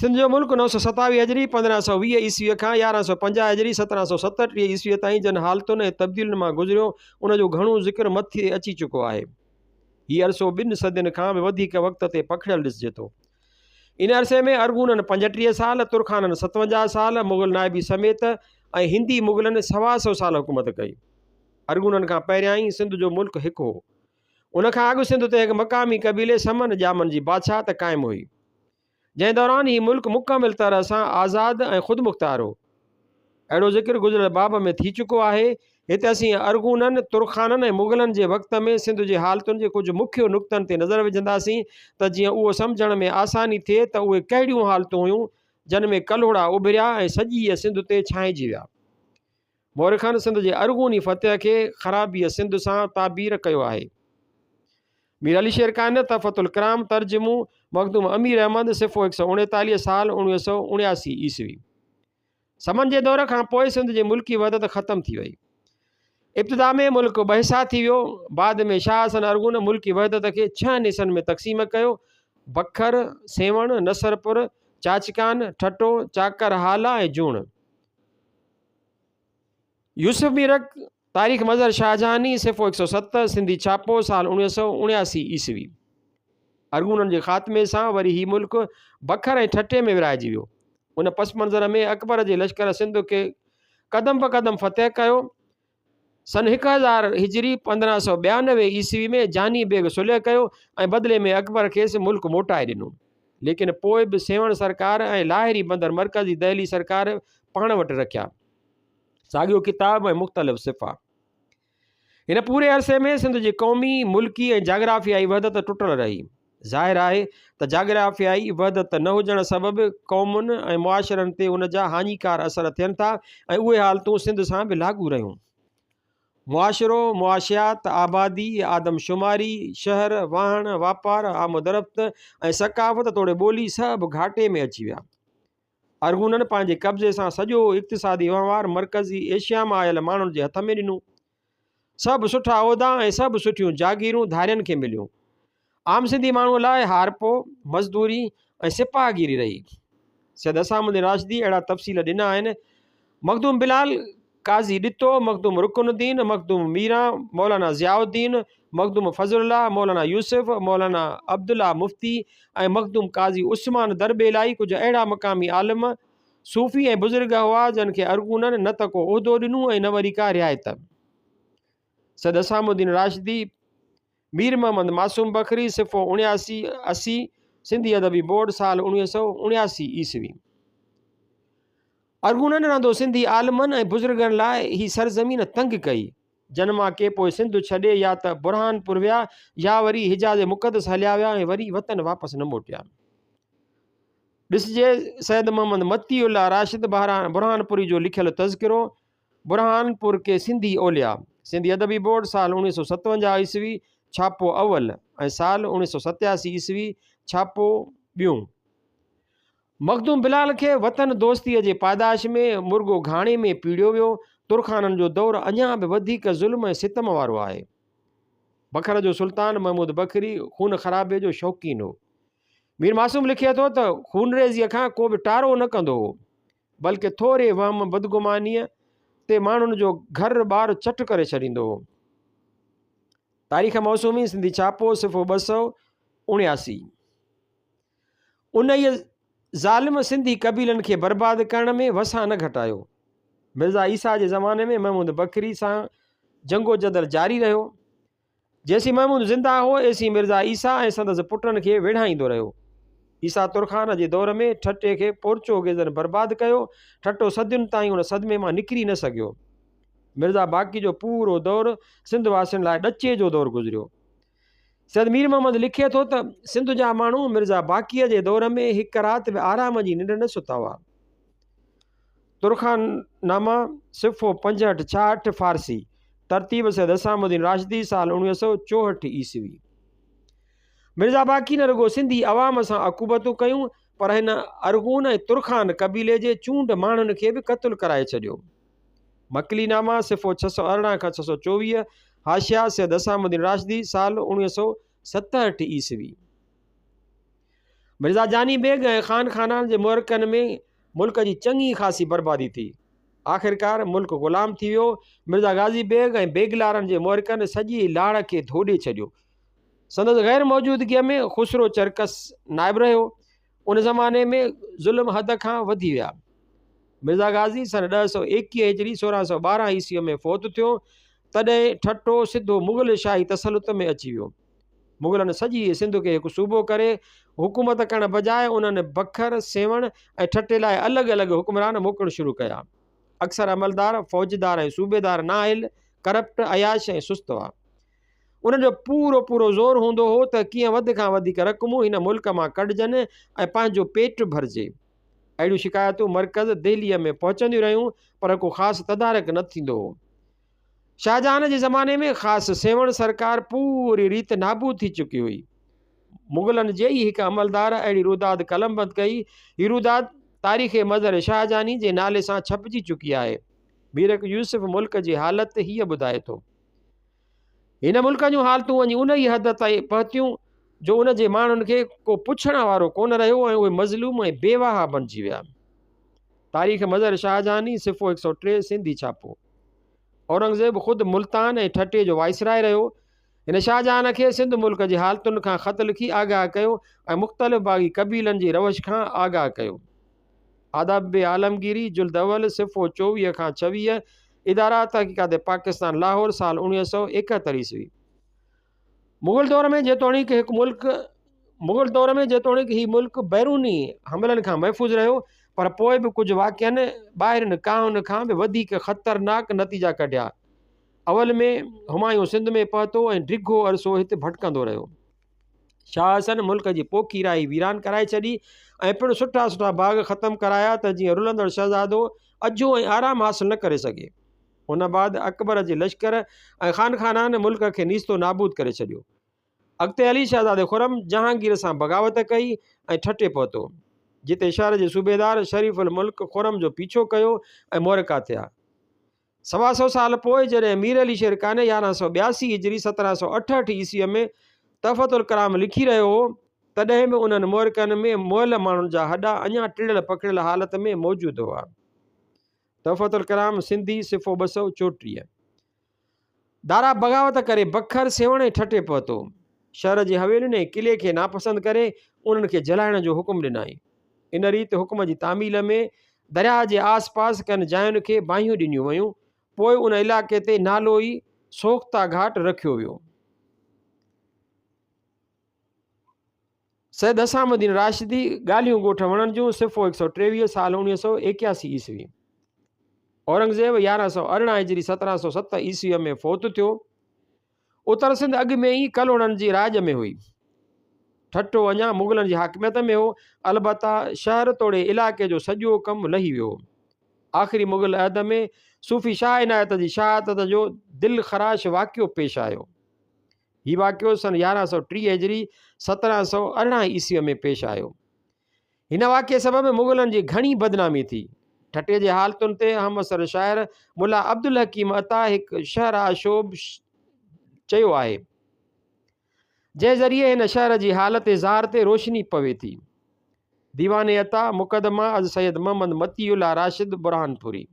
سنڌ جو ملڪ نو سؤ ستاويهه هجري، پندرهن سؤ ويهه عيسويء کان يارهن سؤ پنجاهه هجري، سترهن سؤ ستٽيهه عيسويء تائين جن حالتن ۽ تبديلين مان گذريو، ان جو گهڻو ذڪر مٿي اچي چڪو آهي. هي عرصو ٻن صدين کان به وڌيڪ وقت تي پکڙيل ڏسجي ٿو. ان عرصي ۾ ارغونن پنجٽيهه سال، ترخانن ستونجاهه سال، مغل نائبي سميت ۽ هندي مغلن سوا سؤ سال حڪومت ڪئي. ارغونن کان پهريائين سنڌ جو ملڪ هڪ هو. ان کان اڳ سنڌ تي هڪ مقامي قبيلي سمن ڄامن جي بادشاهت قائم هئي، جنهن دوران هي ملڪ مڪمل طرح سان آزاد ۽ خودمختار هو. اهڙو ذڪر گذريل باب ۾ ٿي چڪو آهي. هت اسين ارغونن، ترخانن ۽ مغلن جي وقت ۾ سنڌ جي حالتن جي ڪجهه مکيه نقطن تي نظر وجهنداسين ته جيئن اهو سمجهڻ ۾ آساني ٿئي ته اهي ڪهڙيون حالتون هيون جن ۾ ڪلهوڙا اڀريا ۽ سڄيء سنڌ تي ڇانئجي ويا. مؤرخن سنڌ جي ارغوني فتح کي خرابيء سنڌ سان تعبير ڪيو آهي. مير علي شير ڪائنات، تحفة الڪرام، ترجمو، مخدوم امير احمد، صفحو هڪ سؤ اڻيتاليهه، سال اوڻويهه سؤ اڻياسي عيسوي. سمن جي دور کان پوء سنڌ جي ملڪي وحدت ختم ٿي وئي. ابتدا ۾ ملڪ ٻه حصا ٿي ويو. بعد ۾ شاهه حسن ارغون ملڪي وحدت کي ڇهن حصن ۾ تقسيم ڪيو، بکر، سيوهڻ، نصرپور، چاچڪان، ٺٽو، چاڪر، هالا ۽ جوڻ. يوسف ميرڪ، تاريخ مظهر شاهجهاني، صفحو هڪ سؤ ست، سنڌي ڇاپو، سال اڻويهه سؤ اڻياسي عيسوي. ارغونن جي خاتمي سان وري هي ملڪ بکر ۽ ٺٽي ۾ ورهائجي ويو. ان پس منظر ۾ اڪبر جي لشڪر سنڌ کي قدم بقدم فتح ڪيو. سن هڪ هزار هجري پندرهن سؤ ٻيانوي عيسوي ۾ جاني بيگ صلح ڪيو ۽ بدلي ۾ اڪبر کيس ملڪ موٽائي ڏنو. ليڪن پوء به سيوهڻ سرڪار ۽ لاهري بندر مرڪزي دهلي سرڪار پاڻ وٽ رکيا. ساڳيو ڪتاب ۽ مختلف صفحا. هن پوري عرصي ۾ سنڌ جي قومي، ملڪي ۽ جاگرافيائي وحدت ٽٽل رهي. ظاهر آهي ته جاگرافيائي وحدت نه هجڻ سبب قومن ۽ معاشرن تي ان جا هاڃيڪار اثر ٿين ٿا ۽ اهي حالتون سنڌ سان به لاڳو رهيون. معاشرو، معاشيات، آبادي، آدمشماري، شهر، واهڻ، واپار، آمدرفت ۽ ثقافت توڙي ٻولي سڀ گهاٽي ۾ اچي ويا. ارغونن پنهنجي قبضي سان سڄو اقتصادي وهنوار مرڪزي ايشيا مان آيل ماڻهن جي هٿ ۾ ڏنو. سڀ سٺا عهدا ۽ سڀ سٺيون جاگيرون ڌارين کي مليون. عام سنڌي ماڻهوء لاء هارپو، مزدوري ۽ سپاهه گيري رهي. سيد حسام الدين راشديء اهڙا تفصيل ڏنا آهن، مخدوم بلال، قاضي ڏتو، مخدوم رڪن الدين، مخدوم ميران، مولانا ضياء الدين، مخدوم فضل الله، مولانا يوسف، مولانا عبدالله مفتي ۽ مخدوم قاضي عثمان درٻيلائي ڪجهه اهڙا مقامي عالم، صوفي ۽ بزرگ هئا جن کي ارغونن نه ته ڪو عهدو ڏنو ۽ نه وري ڪا رعايت. سيد حسام الدين راشدي، مير محمد معصوم بکري، صفحو اڻياسي، اسي، سنڌي ادبي بورڊ، سال اوڻويهه سؤ اڻياسي عيسوي. ارغونن رهندو سنڌي عالمن ۽ بزرگن لاء هي سرزمين تنگ ڪئي، جن مان ڪي پوء سنڌ ڇڏي يا ته برهانپور ويا يا وري حجاز مقدس هليا ويا ۽ وري وطن واپس نه موٽيا. ڏسجي سيد محمد متي الله راشد برهانپوري جو لکيل تذڪرو برهانپور ڪي سنڌي اولياء، سنڌي ادبي بورڊ، سال اوڻيهه سؤ ستونجاهه عيسوي، ڇاپو اول، ۽ سال اوڻيهه سؤ ستياسي عيسوي، ڇاپو ٻيون. مخدوم بلال کي وطن دوستيء جي پاداش ۾ مرڳو گهاڻي ۾ پيڙيو ويو. ترخانن جو دور اڃا به وڌيڪ ظلم ۽ ستم وارو آهي. بکر جو سلطان محمود بکري خون خرابي جو شوقين هو. مير معصوم لکي ٿو ته خونريزيء کان ڪو به ٽارو نه ڪندو هو، بلڪه ٿوري وهم بدگمانيء تي ماڻهن جو گهر ٻار چٽ ڪري ڇڏيندو هو. تاريخ موسومي، سنڌي ڇاپو، صفحو ٻه سؤ اڻياسي. انهيء ظالم سنڌي قبيلن کي برباد ڪرڻ ۾ وسان نه گهٽايو. مرزا عيسيٰ جي زماني ۾ محمود بکري سان جنگوجدل جاري رهيو. جيسين محمود زنده هو، ايسين مرزا عيسيٰ ۽ سندس پٽن کي ويڙهائيندو رهيو. عيسيٰ ترخان جي دور ۾ ٺٽي کي پورچوگيزن برباد ڪيو. ٺٽو صدين تائين ان صدمي مان نڪري نه سگهيو. مرزا باقي جو پورو دور سنڌ واسين لاء ڏچي جو دور گذريو. سيد مير محمد لکي ٿو ته، سنڌ جا ماڻهو مرزا باقيء جي دور ۾ هڪ رات به آرام جي ننڊ نه ستا هئا. ترخان نامه، صفحو پنجهٺ، ڇاهٺ، فارسي، ترتيب سيد حسام الدين راشدي، سال اوڻويهه سؤ چوهٺ عيسوي. مرزا باقي نه رڳو سنڌي عوام سان عقوبتون ڪيون پر هن ارغون ۽ ترخان قبيلي جي چونڊ ماڻهن کي به قتل ڪرائي ڇڏيو. مڪلي نامه، صفحو ڇهه سؤ ارڙهن کان ڇهه سؤ چوويهه، حاشيه، سيد حسام الدين راشدي، سال اوڻويهه سؤ ستهٺ عيسوي. مرزا جاني بيگ ۽ خان خانان جي معرڪن ۾ ملڪ جي چڱي خاصي بربادي ٿي. آخرڪار ملڪ غلام ٿي ويو. مرزا غازي بيگ ۽ بيگلارن جي معرڪن سڄي لاڙ کي ڌوڏي ڇڏيو. سندس غير موجودگيء ۾ خسرو چرڪس نائب رهيو. ان زماني ۾ ظلم حد کان وڌي ويا. مرزا غازي سن ڏهه سؤ ايڪيهه هجري سورهن سؤ ٻارهن عيسويء ۾ فوت ٿيو، تڏهن ٺٽو سڌو مغل شاهي تسلط ۾ اچي ويو. مغلن سڄيء سنڌ کي هڪ صوبو ڪري حڪومت ڪرڻ بجاء انهن بکر، سيوهڻ ۽ ٺٽي لاء الڳ الڳ حڪمران موڪلڻ شروع ڪيا. اڪثر عملدار، فوجدار ۽ صوبيدار نااهل، ڪرپٽ، عياش ۽ سست هئا. انهن جو پورو پورو زور هوندو هو ته ڪيئن وڌ کان وڌيڪ رقمون هن ملڪ مان ڪڍجن ۽ پنهنجو پيٽ ڀرجي. اهڙيون شڪايتون مرڪز دهليء ۾ پهچنديون رهيون پر ڪو خاص تدارڪ نه ٿيندو هو. شاهجهان جي زماني ۾ خاص سيوهڻ سرڪار پوري ريت نابود ٿي چڪي هئي. مغلن جي ئي هڪ عملدار اهڙي روداد قلمبند ڪئي. هي روداد تاريخ مظهر شاهجهاني جي نالي سان ڇپجي چڪي آهي. بيرڪ يوسف ملڪ جي حالت هيء ٻڌائي ٿو. هن ملڪ جون حالتون وڃي انهيء حد تائين پهتيون جو ان جي ماڻهن کي ڪو پڇڻ وارو ڪونه رهيو ۽ اهي مظلوم ۽ بيواها بڻجي ويا. تاريخ مظهر شاهجهاني صفحو هڪ سؤ ٽي سنڌي ڇاپو اورنگزيب خود ملتان ۽ ٺٽي جو وائسراء رهيو هن شاهجهان کي سنڌ ملڪ جي حالتن کان خط لکي آگاهه ڪيو ۽ مختلف باغي قبيلن جي روش کان آگاهه ڪيو آداب عالمگيري جلد اول صفحو چوويهه کان ڇويهه ادارا تحقيقات پاڪستان لاهور سال اڻويهه سؤ ايڪهتر عيسوي مغل دور ۾ جيتوڻيڪ هڪ ملڪ مغل دور ۾ جيتوڻيڪ هي ملڪ بيروني حملن کان محفوظ رهيو پر پوء به ڪجهه واقعن ٻاهرين ڪاهن کان به وڌيڪ خطرناڪ نتيجا ڪڍيا. اول ۾ همايون سنڌ ۾ پهتو ۽ ڊگهو عرصو هتي ڀٽڪندو رهيو. شاهه حسن ملڪ جي پوکي راهي ويران ڪرائي ڇڏي ۽ پڻ سٺا سٺا باغ ختم ڪرايا ته جيئن رلندڙ شهزادو اجهو ۽ آرام حاصل نه ڪري سگهي. ان بعد اڪبر جي لشڪر ۽ خانخانان ملڪ کي نيستو نابود ڪري ڇڏيو. اڳتي هلي شهزادي خرم جهانگير سان بغاوت ڪئي ۽ ٺٽي پهتو، جتي شهر جي صوبيدار شريف الملڪ خرم جو پيڇو ڪيو ۽ مورڪا ٿيا. سوا سؤ سال پوء جڏهن مير علي شير قانع يارهن سؤ ٻياسي هجري سترهن سؤ اٺهٺ عيسويء ۾ تحفة الڪرام لکي رهيو هو، تڏهن به انهن مورڪن ۾ مئل ماڻهن جا هڏا اڃا ٽڙيل پکڙيل حالت ۾ موجود هئا. تحفة الڪرام سنڌي صفحو ٻه سؤ چوٽيهه دارا بغاوت ڪري بکر سيوهڻ ۽ ٺٽي پهتو شهر جي حويلين ۽ قلعي کي ناپسند ڪري انهن کي جلائڻ جو حڪم ڏنائين ان ريت حڪم جي تعميل ۾ درياهه جي آس پاس ڪن جاين کي باهيون ڏنيون ويون پوء ان علائقي تي نالو ئي سوختا گهاٽ رکيو ويو سيد حسام الدين راشدي، ڳالهيون ڳوٺ وڻڻ جون، صفحو هڪ سؤ ٽيويهه، سال اڻويهه سؤ ايڪياسي عيسوي. اورنگزيب يارهن سؤ ارڙهن هجري سترهن سؤ ست عيسويء ۾ فوت ٿيو. اتر سنڌ اڳ ۾ ئي ڪلهوڙن جي راڄ ۾ هئي. ٺٽو اڃا مغلن جي حاڪميت ۾ هو. البته شهر توڙي علائقي جو سڄو ڪم لهي ويو هو. آخري مغل عهد ۾ صوفي شاهه عنايت جي شهادت جو دلخراش واقعو پيش آيو. هي واقعو سن يارهن سؤ ٽيهه هجري، سترهن سؤ ارڙهن عيسويء ۾ پيش آيو. هن واقعي سبب مغلن جي گهڻي بدنامي ٿي. ٺٽي جي حالتن تي اهم عصر شاعر ملا عبدالحڪيم عطا هڪ شعر آشوب چيو آهي، جنهن ذريعي هن شهر جي حالت زار تي روشني پوي ٿي. ديوان عطا، مقدمه از سيد محمد مطيع الله راشد برهانپوري.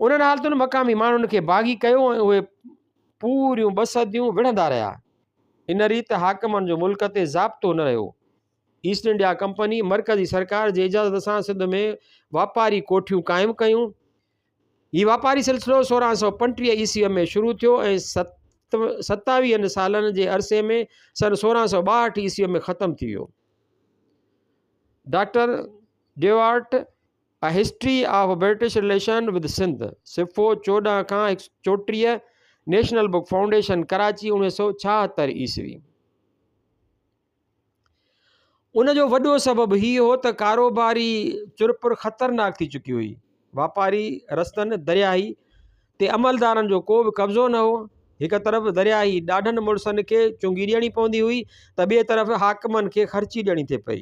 انهن حالتن مقامي ماڻهن کي باغي ڪيو ۽ اهي پوريون ٻه صديون وڙهندا رهيا. ان ريت حاڪمن جو ملڪ تي ضابطو نه رهيو. ايسٽ انڊيا ڪمپني مرڪزي سرڪار جي اجازت سان سنڌ ۾ واپاري ڪوٺيون قائم ڪيون. هي واپاري سلسلو سورهن سؤ پنٽيهه عيسويء ۾ شروع ٿيو ۽ ستاويهن سالن جي عرصي ۾ سن سورهن سؤ ٻاهٺ عيسويء ۾ ختم ٿي ويو. Doctor Duarte a history of British relation with Sindh, صفحو چوڏهن کان هڪ سؤ چوٽيهه، نيشنل بڪ فائونڊيشن، ڪراچي، اڻويهه سؤ ڇاهتر عيسوي. ان جو وڏو سبب هي هو ته ڪاروباري چرپر خطرناڪ ٿي چڪي هئي. واپاري رستن، درياهي، تي عملدارن جو ڪو به قبضو نه هو. هڪ طرف درياهي ڏاڍن مڙسن کي چونگي ڏيڻي پوندي هئي ته ٻئي طرف حاڪمن کي خرچي ڏيڻي ٿي پئي.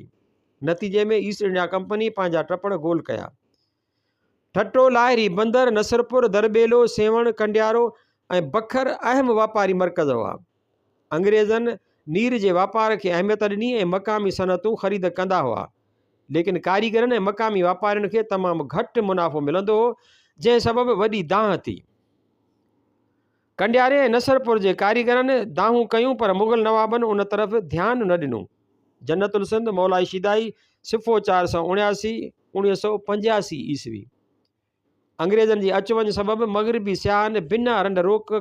نتيجي ۾ ايسٽ انڊيا ڪمپني پنهنجا ٽپڙ گول ڪيا. ٺٽو، لاهري، بندر، نصرپور، درٻيلو، سيوهڻ، ڪنڊيارو ۽ بکر اهم واپاري مرڪز هئا. انگريزن نير جي واپار کي اهميت ڏني ۽ مقامي صنعتون خريد ڪندا هئا. ليڪن ڪاريگرن ۽ مقامي واپارين کي تمام گهٽ منافعو ملندو هو، جنهن سبب وڏي دانهن ٿي. ڪنڊياري ۽ نصرپور جي ڪاريگرن دانهون ڪيون پر مغل نوابن ان طرف ڌيان نه ڏنو. جنت السنڌ مولائي شيدائي، صفحو چار سؤ اڻياسي، اڻويهه سؤ پنجياسي عيسوي، انگريزن جي اچ وڃ سبب مغربي سياحن بنا رنڊ روڪ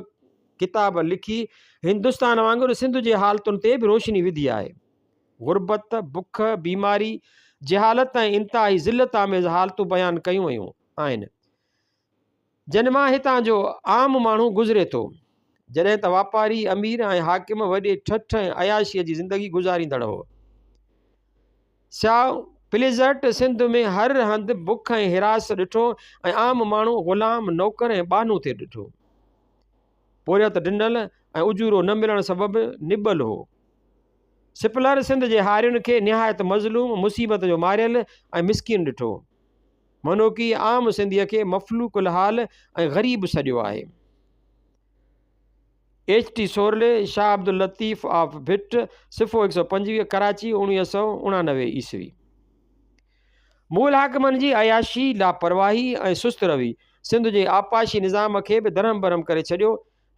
ڪتاب لکي هندستان وانگر سنڌ جي حالتن تي به روشني وڌي آهي. غربت، بک، بيماري، جهالت ۽ انتهائي ذلت آميز حالتون بيان ڪيون ويون آهن. جن مان هتان جو عام ماڻهو گذري ٿو، جڏهن ته واپاري، امير ۽ حاڪم وڏي ٺٺ ۽ عياشيء جي زندگي گذاريندڙ هئا. سياء پليزرٽ سنڌ ۾ هر هنڌ بک ۽ حراس ڏٺو ۽ عام ماڻهو غلام، نوڪر ۽ ٻانهو ٿي ڏٺو. پورهيت ڊنل ۽ اجورو نه ملڻ سبب نٻل هو. سپلر سنڌ جي هارين کي نهايت مظلوم، مصيبت جو ماريل ۽ مسڪين ڏٺو. منوڪي عام سنڌيء کي مفلوڪ الحال ۽ غريب سڏيو آهي. H T Sorley, Shah Abdul Latif of Bhit, صفحو هڪ سؤ پنجويهه، ڪراچي، اڻويهه سؤ اڻانوي عيسوي. مغل حاڪمن جي عياشي، لاپرواهي ۽ سست روي سنڌ جي آبپاشي نظام کي به درهم برهم ڪري ڇڏيو.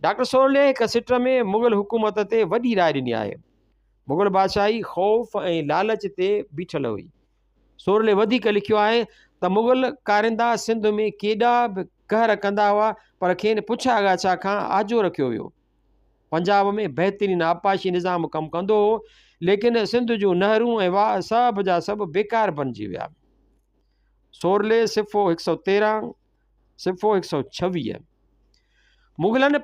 ڊاڪٽر سورلي هڪ سٽ ۾ مغل حڪومت تي وڏي راء ڏني آهي. مغل بادشاهي خوف ۽ لالچ تي بيٺل هئي. سورلي وڌيڪ لکيو آهي ته مغل ڪارندا سنڌ ۾ ڪيڏا به قهر ڪندا هئا پر کين پڇا ڳاڇا کان آجو رکيو ويو پنجاب ۾ بهترين آبپاشي نظام ڪم ڪندو هو ليڪن سنڌ جون نهرون ۽ واء سڀ جا سڀ بيڪار بنجي ويا سورلي صفو هڪ سو تيرهن صفحو هڪ سؤ ڇويهه، مغلن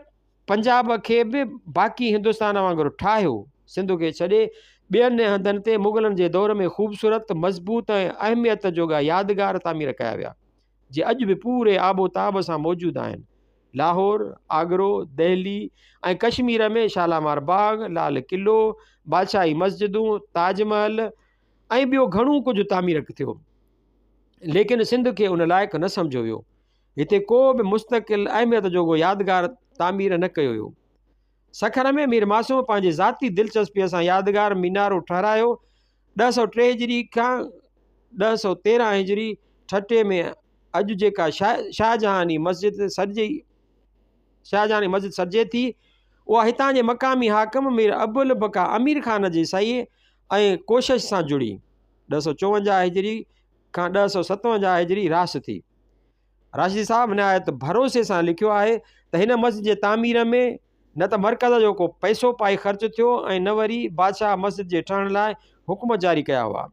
پنجاب کي به باقي هندستان وانگر ٺاهيو، سنڌ کي ڇڏي ٻين هنڌن تي مغلن جي دور ۾ خوبصورت، مضبوط ۽ اهميت جوڳا يادگار تعمير ڪيا ويا، جي اڄ به پوري آب و تاب سان موجود آهن. لاهور، آگرو، دهلي ۽ ڪشمير ۾ شالامار باغ، لال قلعو، بادشاهي مسجدون، تاج محل، ۽ ٻيو گهڻو ڪجهه تعمير ڪٿيو ليڪن سنڌ کي ان لائق نه سمجهيو ويو هتي ڪو به مستقل اهميت جوڳو يادگار تعمير نه ڪيو ويو سکر ۾ مير ماسوم پنهنجي ذاتي دلچسپيء سان يادگار مينارو ٺهرايو ڏهه سؤ ٽي هجري کان ڏهه سؤ تيرهن هجري ٺٽي ۾ اڄ جيڪا شاهه شاهجهاني مسجد سڏجي شاهجهاني مسجد سڏجي ٿي اها هتان جي مقامي حاڪم مير ابوالبقا امير خان جي سعي ۽ ڪوشش سان جڙي ڏهه سؤ چوونجاهه هجري کان ڏهه سؤ ستونجاهه هجري راس ٿي. راشدي صاحب نهايت ڀروسي سان لکيو آهي ته هن مسجد جي تعمير ۾ نه ته مرڪز جو ڪو پئسو پائي خرچ ٿيو ۽ نه وري بادشاهه مسجد جي ٺهڻ لاء حڪم جاري ڪيا هئا.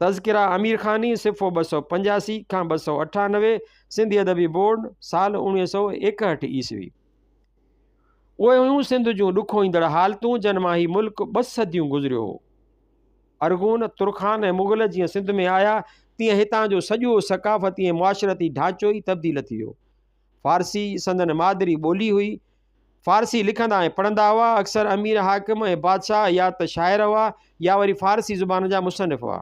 تذڪره امير خاني، صفحو ٻه سؤ پنجاسي کان ٻه سؤ اٺانوي، سنڌي ادبي بورڊ، سال اوڻويهه سؤ ايڪهٺ عيسوي. اهي هيون سنڌ جون ڏکوئيندڙ حالتون جن مان هي ملڪ ٻه صديون گذريو هو. ارغون، ترخان ۽ مغل جيئن سنڌ ۾ آيا تيئن هتان جو سڄو ثقافتي ۽ معاشرتي ڍانچو ئي تبديل ٿي ويو. فارسي سندن مادري ٻولي هئي. فارسي لکندا ۽ پڙهندا هئا. اڪثر امير حاڪم ۽ بادشاهه يا ته شاعر هئا يا وري فارسي زبان جا مصنف هئا.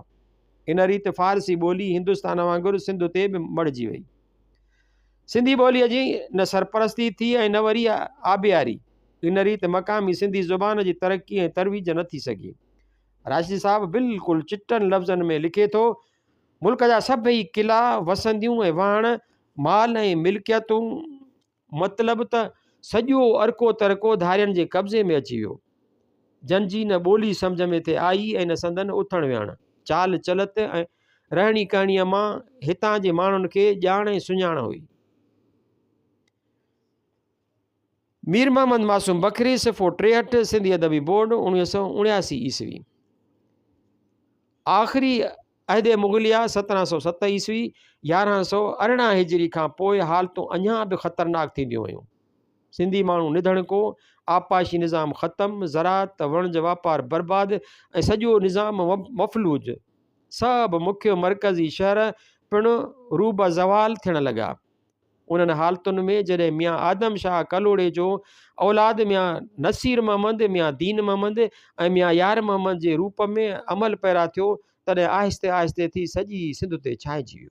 ان ريت فارسي ٻولي هندستان وانگر سنڌ تي به مڙهجي وئي. سنڌي ٻوليء جي نه سرپرستي ٿي ۽ نه وري آبياري. ان ريت مقامي سنڌي زبان جي ترقي ۽ ترويج نه ٿي سگهي. راشدي صاحب بلڪل چٽن لفظن ۾ لکي ٿو، ملڪ جا سڀئي قلعا، وسنديون ۽ واهڻ، مال ۽ ملڪيتون، مطلب ته سڄو ارڪو ترڪو ڌارين جي قبضي ۾ اچي ويو، جن جي نه ٻولي سمجهه ۾ ٿي آئي ۽ نه سندن اٿڻ ويهڻ، چال چلت ۽ رهڻي ڪهڻيء مان هتان جي ماڻهن کي ڄاڻ ۽ سڃاڻ هئي. مير محمد معصوم بکري صفحو ٽيهٺ سنڌي ادبي بورڊ اڻويهه سؤ اڻياسي عيسوي آخري عهد مغليه، سترهن سؤ ست عيسوي، يارهن سؤ ارڙهن هجري، کان پوء حالتون اڃا به خطرناڪ ٿينديون ويون. سنڌي ماڻهو نڌڻڪو، آبپاشي نظام ختم، زراعت، وڻج واپار برباد ۽ سڄو نظام مفلوج. سڀ مکيه مرڪزي شهر پڻ روبه زوال ٿيڻ لڳا. انهن حالتن ۾ جڏهن ميان آدم شاهه ڪلهوڙي جو اولاد ميان نصير محمد، ميان دين محمد ۽ ميان يار محمد جي روپ ۾ عمل پيرا ٿيو، تڏهن آهستي آهستي ٿي سڄي سنڌ تي ڇانئجي ويو.